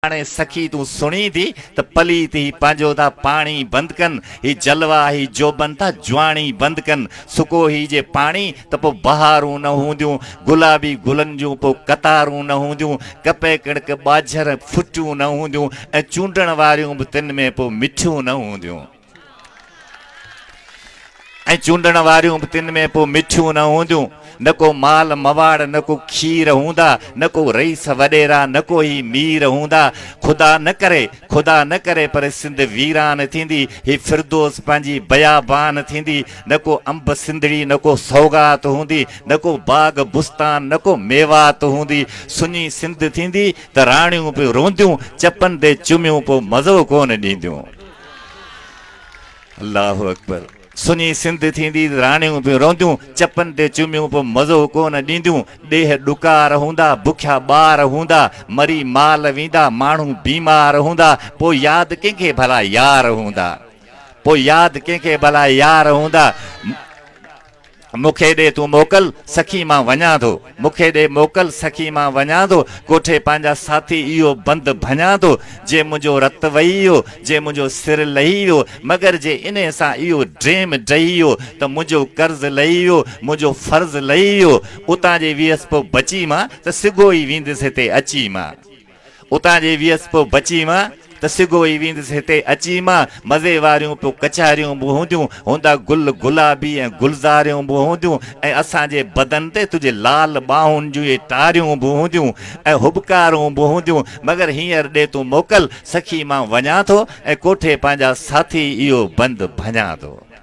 هاڻي سخي تون سڻين ٿي ته پليت هي پنهنجو ٿا پاڻي بند ڪن، هي جلوا هي جوڀن ٿا جواني بند ڪن، سڪو هي جي پاڻي ته پوء بهارون نه هونديون، گلابي گلن جون پوء قطارون نه هونديون، ڪپهه ڪڻڪ ٻاجهر ڦٽيون نه هونديون ۽ چونڊڻ واريون به تن ۾ پوء مٺيون نه هونديون. ۽ چونڊڻ واريون به تن ۾ پوء مٺيون نه هونديون، نه ڪو مال مواڙ، نه ڪو کير هوندا، نه ڪو رئيس وڏيرا، نه ڪو هي مير هوندا. خدا نه ڪري، خدا نه ڪري پر سنڌ ويران ٿيندي، هي فردوس پنهنجي بيابان ٿيندي، نه ڪو انب سنڌڙي، نه ڪو سوغات هوندي، نه ڪو باغ بستان، نه ڪو ميوات هوندي. سڃي سنڌ ٿيندي ته راڻيون به رونديون، چپن تي چميون پوء مزو ڪونه ڏينديون. الله اڪبر سني سنڌ ٿيندي راڻيون به رونديون چپن تي چميون پو مزو ڪون ڏينديون ڏيھ ڏڪار هوندا بکيا ٻار هوندا مري مال ويندا ماڻهو بيمار هوندا پو ياد ڪنهن کي ڀلا يار هوندا پو ياد ڪنهن کي ڀلا يار هوندا مون کي ڏي تون موڪل سخي مان وڃان ٿو. مون کي ڏي موڪل سخي مان وڃان ٿو ڪوٺي پنهنجا ساٿي اهو بند ڀڃان ٿو جي منهنجو رت وهي ويو جي منهنجو سر لهي ويو مگر جي انهي سان اهو ڊريم ڊهي ويو ته منهنجو قرض لهي ويو منهنجو فرض لهي ويو اتان جي ويس پو بچي مان ته سگهو ئي ويندس هتي اچي مان اتان جي ويس پيو بچي مان ته سگهو ئي ويندس هتي اچي مان مزي واريون پيو ڪچهريون به هونديون هوندا گل گلابي ۽ گلزاريون به هونديون ۽ اسان جي بدن تي تنهنجي لال ٻانهن جون اهي ٽاريون به هونديون ۽ هٻڪارون به هونديون مگر هينئر ڏي تون موڪل سخي مان وڃان ٿو ۽ ڪوٺي پنهنجا ساٿي اهو بند ڀڃان ٿو.